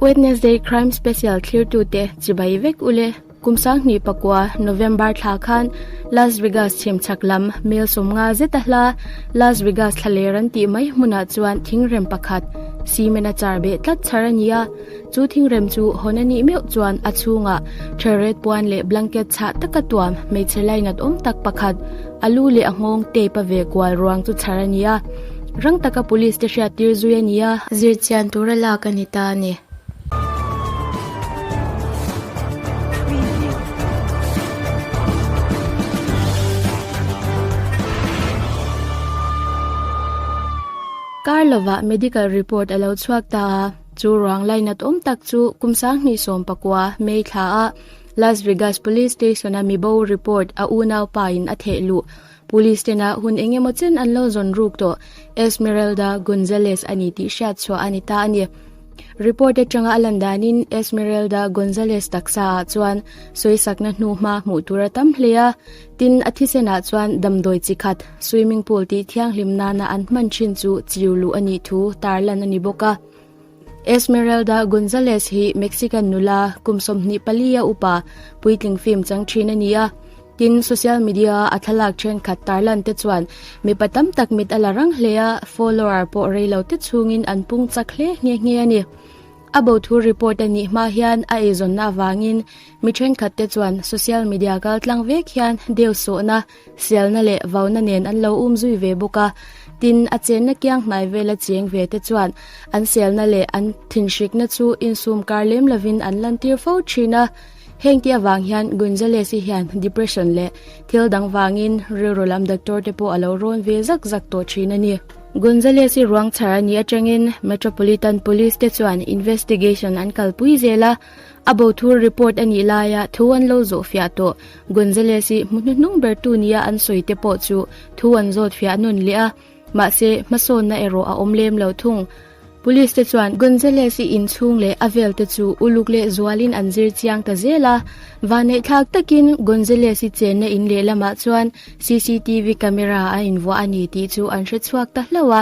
Wednesday Crime Special thirtu te chibai vek ule kum sang hni pakua November thla khan Las Vegas chim chak lam mil som nga zeta hla Las Vegas thla ler an tih mai hmuna chuan thing rem pakhat cement a char beh tlat char ania chu thing rem chu hon ani meu chuan a chunga ther red puan le blanket chha taka tuam hmeichhe lainat awm tak pakhat alu le a ngawng tape a ve kual ruang chu char ania Rang taka police te hriat tir zui a ni a. Zir chian tur a lak a ni ta a ni. Kar lovah medical report a lo chhuak ta a, chu ruang line a tawm tak chu kum sanghnih sawm pakua May thlaah Las Vegas Police Station-a mibo report a unau pa in a theh luh. Police te na hun eng emaw chen an lo zawn ruk tawh, Esmeralda Gonzalez a ni tih hriat chhuah a ni ta a ni. Report atanga a lan danin Esmeralda Gonzalez taksa ah chuan sawisakna hnuhma hmuh tur a tam hle a, tin a thisen ah chuan damdawi chi khat, swimming pool tih thianghlim nana an hman thin chu chiu luh a nih thu tarlan a ni bawk a. Esmeralda Gonzalez hi Mexican nula kum sawmhnih pali a upa puitling fim chang thin a ni a. Tin social media a thlalak thenkhat tarlan te chuan mipa tam tak mit a la rang hle a, follower pawh rei lo te chungin an pung chak hle nghe nghe a ni. A bo thu report a nih hma hian a eizawnna avangin mi thenkhat te chuan social media kaltlang vek hian deu sawhna, Hrialna leh vauna nen an lo um zui ve bawk a, tin, a chenna kiang hnai vela chiang ve te chuan an selna leh an thinhrikna chu insum kar lem lovin an lantir fo thin a. Hengte avang hian Gonzalez-i hian depression leh thil dang vangin rilru lam doctor te pawh a lo rawn ve zak zak tawh thin a ni. Gonzalez-i ruang chhar a nih atangin Metropolitan Police te chuan investigation an kalpui zel a. A bo thur report anih laia thu an lo zawh fiah tawh. Gonzalez i hmu hnuhnung ber tu nia an sawi te pawh chu thu an zawt fiah a nawn leh a, mahse hmasawnna erawh a awm lem lo thung. Police te chuan Gonzalez i inchhung leh a vel te chu uluk leh zualin an zir chiang ta zel a. Vanneih thlak takin Gonzalez i chenna in lehlamah chuan cctv camera a invuah a ni tih chu an hre chhuak ta hlauh a.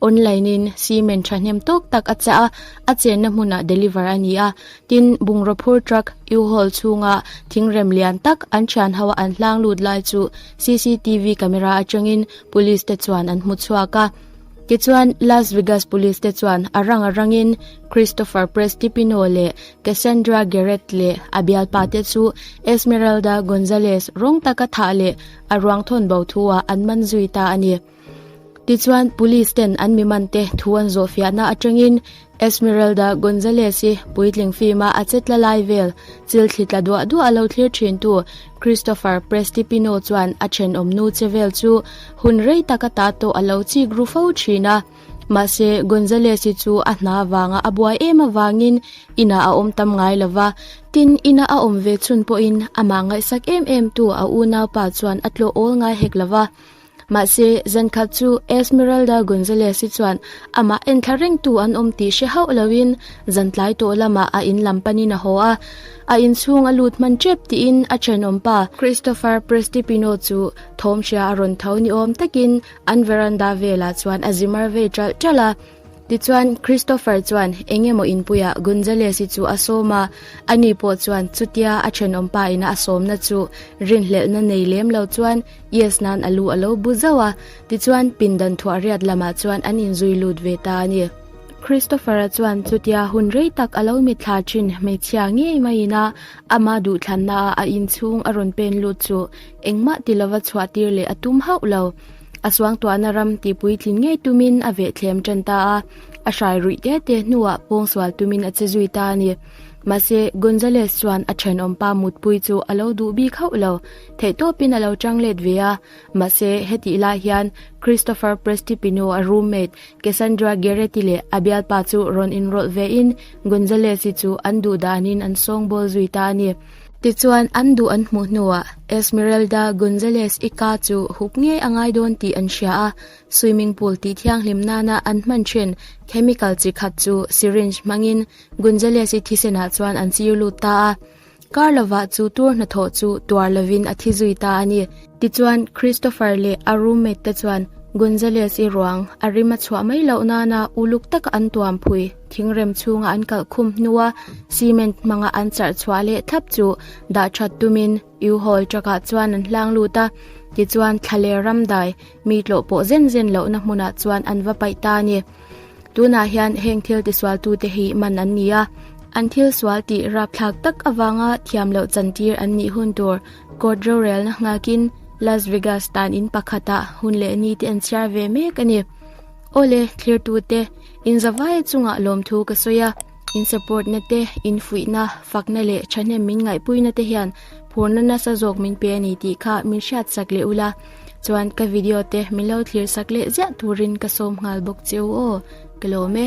Online in cement thahnem tawk tak a chah a, a chenna hmunah deliver a ni a. Tin, bungraw phur truck U-Haul chhunga thingrem lian tak an thian ho an hlang lut lai chu CCTV camera atangin Police te chuan an hmu chhuak a. Tichuan, Las Vegas Police te chuan a rang a rangin Christopher Prestipino leh Cassandra Garrett leh a bialpa te chu Esmeralda Gonzalez rawng taka thah leh a ruangthawnbo thu-ah an man zui ta a ni. Tichuan, police ten an miman te thu an zawh fiahna atangin Esmeralda Gonzalez i puitling fim a a che tla lai vel chilthli tla duah duah a lo thlir thintu Christopher Prestipino chuan a thenawm nu che vel chu hun rei taka ta tawh a lo chik ru fo thin a. Mahse, Gonzalez i chu a hna vanga a buai em avangin inah a awm tam ngai lo va, tin ina a awm ve chhun pawhin amah ngaihsak em em tu a unau pa chuan a tlawh awl ngai hek lo va. Mahse, zan khat chu Esmeralda Gonzalez hi chuan amah enthla rengtu an awm tih hre hauh loin zan tlai tawh lamah a in lam panin a haw a, a inchhung a lut hman ṭep tiin a ṭhenawm pa, Christopher Prestipino chu thawmhria a rawn tho ni awm takin an veranda velah chuan a zimar ve ṭalh ṭalh a. Tichuan, Christopher chuan eng emaw inpuiah Gonzalez-i chu a sawm a, ani pawh chuan chutia a thenawm paina a sawmna chu rinhlelhna nei lem lo chuan Yes nan a lu a lo bu zauh a. Tichuan, pindan thuahriat lamah chuan an inzui lut ve ta a ni. Christopher-a chuan chutia hun rei tak a lo mit thla thin hmeichhia ngei maiina ama duhthlanna a a inchhung a rawn pen lut chu engmah ti lova chhuahtir leh a tum hauh lo. A suangtuahna ram tihpui tlin ngei tumin a veh thlem ṭan ta a, a hrai ruih te te hnuah pawng sual tumin a che zui ta a ni. Mahse, Gonzalez chuan a ṭhenawm pa mutpui chu a lo duh bik hauh lo, theihtawpin a lo ṭang let ve a. Mahse, hetih lai hian Christopher Prestipino a roommate Cassandra Guerretti leh a bialpa chu rawn inrawlh vein Gonzalez-i chu an duhdanin an sawngbawl zui ta a ni. Tichuan an duh an hmuh hnuah Esmeralda Gonzalez Ica chu hup ngei a ngai dawn tih an hria a, swimming pool tih thianghlim nana an hman thin chemical chi khat chu syringe hmangin Gonzalez-i thisenah chuan an chir lut ta a. Karlova chu tur hnathawh chu tuar lovin a thi zui ta a ni. Tichuan, Christopher leh a roommate te chuan Gonzalez-i ruang a rim a chhuah mai loh nana uluk taka an tuam phui. Thingrem chhunga an kalh khum hnu a, cement hmanga an charh chhuah leh thlap chu dah that tumin U-Haul truck ah chuan an hlang lut a. Tichuan, thla leh ram dai mi tlawh pawh zen zen lohna hmunah chuan an va paih ta a ni. Tunah hian heng thil tisualtute hi man an ni a. An thil sual tih rapthlak tak avanga thiam loh chantir an nih hun tur. Court rorelna nghakin Las Vegas tan in pakhata hun leh ni te an chhiar ve mek a ni. Ole, thlirtu te, in zavai chunga lawm thu ka sawi a, in support na te, in fuihna, fakna leh thahnem min ngaihpui na te hian phurna nasa zawk min pe a ni tih kha min hriat sak leh ula. Chuan ka video te min lo thlir sak leh ziah turin ka sawm nghal bawk che u aw, ka lawm e.